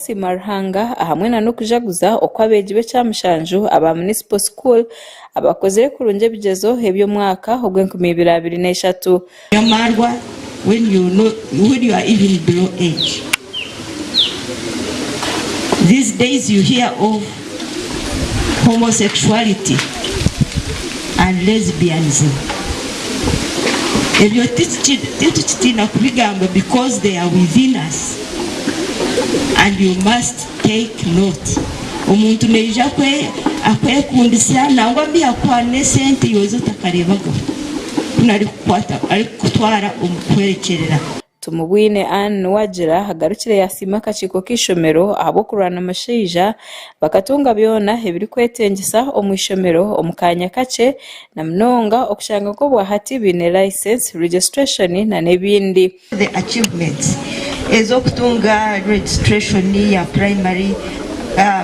kusiima Ruhanga ahamwe na n'okujaguza oku abeegi b'ekyamushanju aba Municipal School abakozire kurungi ebigyezo eby'omwaka ogw'enkumi ibiri abiri na ishatu. Your marwa when you know when you are even below age these days you hear of homosexuality and lesbianism ebyo titukitiina kubigamba because they are within us and you must take note omuntu naija akwekundisa nangwa mbi yakuha n'esente yoza otakareebagaho ku narikukutwara omu kuhwerekyerera. Tumubwine Anne niwe agira agarukire yaasiima akakiiko k'eishomero ahabw'okurwana omushaija, bakatunga byona ebirikwetengyesa omu ishomero omu kaanya kakye na munonga okushanga nka obwa hati baine license, registration na n'ebindi. The achievements ez'okutunga registration ya primary,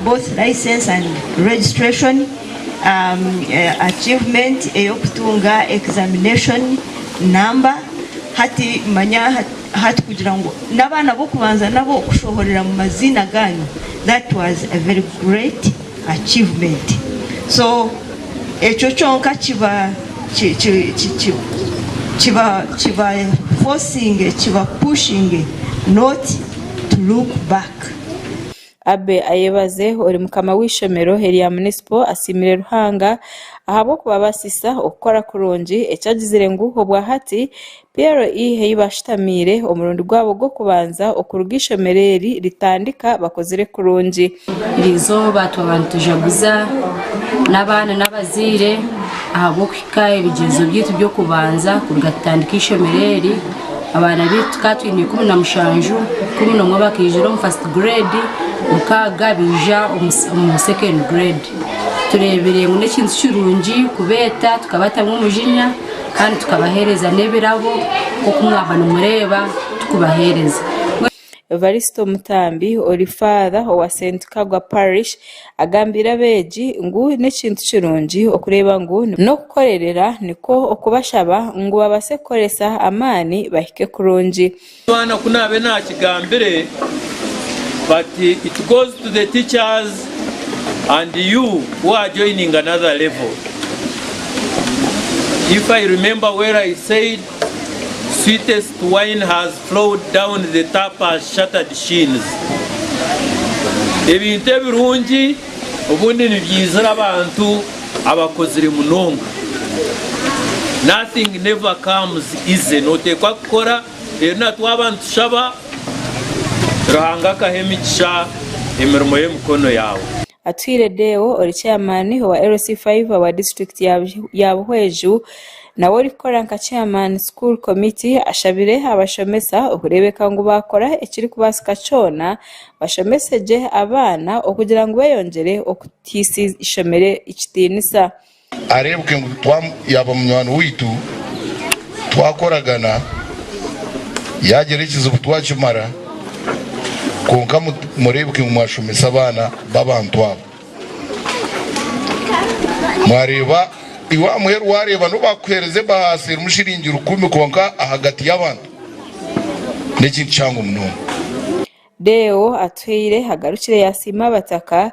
both license and registration, achievement ey'okutunga examination number. Hati manya hati kugira ngu n'abaana b'okubanza nabo kushohorera mu maziina gaanyu that was a very great achievement so ekyo kyonka kiba kiba kiba forcing kiba pushinge not to look back. Abbey Ayebaze ori mukama w'eishomero erya Munisipo asiimire Ruhanga ahabw'okubabaasisa okukora kurungi eki agizire ngu obwahati PLE ei baashutamiire omurundi gwabo gw'okubanza okuruga eishomero eri ritandika bakozire kurungi. Erizooba twaba nitujaguza n'abaana n'abazaire ahabw'okuhika. Ka ebigyezo byaitu by'okubanza kuruga tutandika eishomero eri, abaana baitu tukaba twine ikumi na mushanju, ikumi n'omwe bakaijura omu first grade, mukaaga baija omu second grade. Tureebire ngu n'ekintu kirungi kubeeta tukabatamu omujinya kandi tukabaheereza n'ebirabo nk'oku mwaba nimureeba tukubaheereza. Evaristo Mutambi ori Faather owa St Kagwa Parish agambiire abeegi ngu n'ekintu kirungi okureeba ngu n'okukorerera nikwo okubashaba ngu babaase kukoresa amaani bahike kurungi. Omwana ku naabe naakigambire but it goes to the teachers and you who are joining another level if I remember well I said Sweetest wine has flowed down the tap has shattered sheens Ebintu ebirungi obundi nibyaizira abantu abakozire munonga Nothing never comes easy noteekwa kukora reero natwaba nitushaba Ruhanga akaha emigisha emirimo y'emikono yaawe. Atwire Deo ori chairman owa LC five owa district ya Buhweju nawe orikukora nka chairman school committee ashabire abashomesa okurebeka ngu bakora ekirikubaasika kyona bashomesegye abaana okugira ngu beyongyere okuteisa eishomero ekitiinisa. Areebuke ngu yaaba munywani waitu, twakoragana, yaagira ekizibu twakimara. Kwonka mureebuke ngu mwashomesa abaana b'abantu abo. Mwareeba iwe aha muheru waareeba n'obu baakuheereza ebahaasa erimu shiringi rukumi kwonka ahagati y'abantu n'ekintu kihango munonga. Deo Atuhaire agarukire yaasiima abataka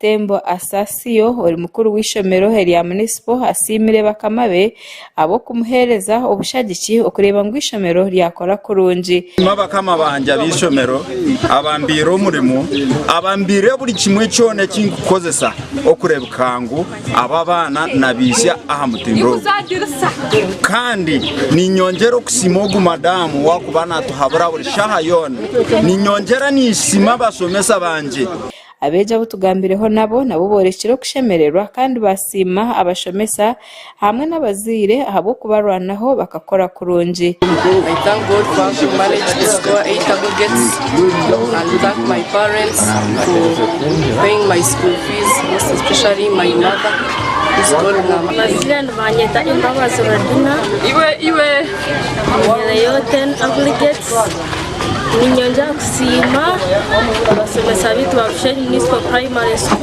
Tembo Asasio, ori mukuru w'eishomero erya munisipo asiimire bakama be ahabw'okumuheereza obushagiki okureeba ngu eishomero ryakora kurungi. Nashima bakama bangye ab'eishomero abambaire omurimo, abambaire buri kimwe kyona eki ndikukozesa okureebeka ngu aba abaana nabaihitsya aha mutindo ogu. Kandi niinyongyera okusiima ogu madamu owaakuba naatuhabura buri shaaha yoona. Niinyongyera niinsiima abashomesa bangye. Abeegi abu tugambireho nabo, nabo boorekire okushemererwa kandi baasiima abashomesa hamwe n'abazaire ahabw'okubarwanaho bakakora kurungi. Amazire nibanyeta Embabazi Rodina. Ninyongera kusiima abashomesa baitu ba Bushenyi Municipal Primary School.